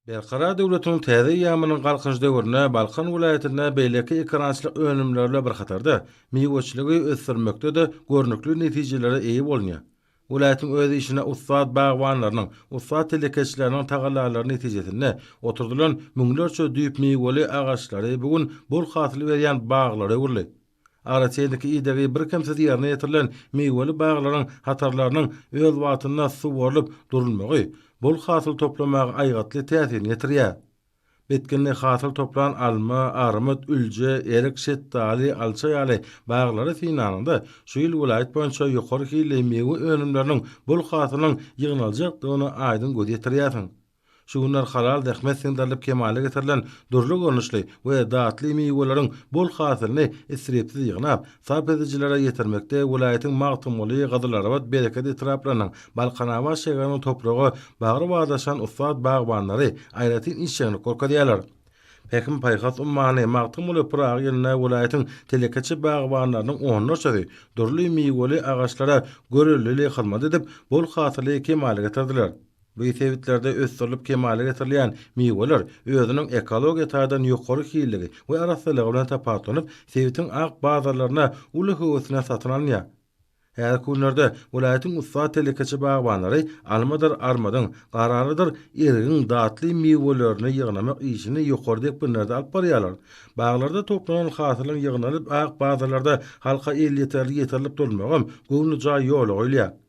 Berkarar döwletiň täze eýýamynyň Galkynyş döwründe Balkan welaýatynda beýleki ekerançylyk önümleri bilen bir hatarda, miweçiligi ösdürmekde-de görnükli netijelere eýe bolunýar. Welaýatyň öz işine ussat bagbanlarynyň, ussat telekeçileriniň tagallalary netijesinde oturdylan müňlerçe düýp miweli agaçlary bu gün bol hasyl berýän baglara öwrüldi. Araçäýdiki idegi birkemsiz ýerine ýetirilen miweli baglaryň hatarlarynyň öz wagtynda suwarylyp durulmagy bol hasyl toplamaga aýgytly täsirini ýetirýär. Bitginli hasyl toplan alma, armyt, ülje, erik, şetdaly, alça ýaly baglary synlanyňda, şu ýyl welaýat boýunça ýokary hilli miwe önümleriniň bol hasylynyň ýygnaljakdygyna aýdyň göz ýetirýärsiň. Şu günler halal zähmet siňdirilip kemala getirilen dürli görnüşli we datly miweleriň bol hasylyny isripsiz ýygnap, sarp edijilere ýetirmekde welaýatyň Magtymguly, Gyzylarbat, Bereket etraplarynyň, Balkanabat şäheriniň topraga bagry badaşan ussat bagbanlary aýratyn işjeňlik görkezýärler. Pähim-paýhas ummany Magtymguly Pyragy ýylynda welaýatyň telekeçi bagbanlarynyň onlarçasy dürli miweli agaçlara görellili hyzmat edip, bol hasyly kemala getirdiler. Bu sebitlerde ösdürilip kemala getirilýän miweler özüniň ekologiýa taýdan ýokary hilligi we arassalygy bilen tapawutlanyp, sebitiň ak bazarlarynda uly höwes bilen satyn alynýar. Häzirki günlerde welaýatyň ussat telekeçi bagbanlary almadyr armadyň, garalydyr erigiň datly miwelerini ýygnamak işini ýokary depginlerde alyp barýarlar. Baglarda toplanan hasylyň ýygnalyp ak bazarlarda halka elýeterli ýetirilip durulmagam göwnejaý ýola goýulýar.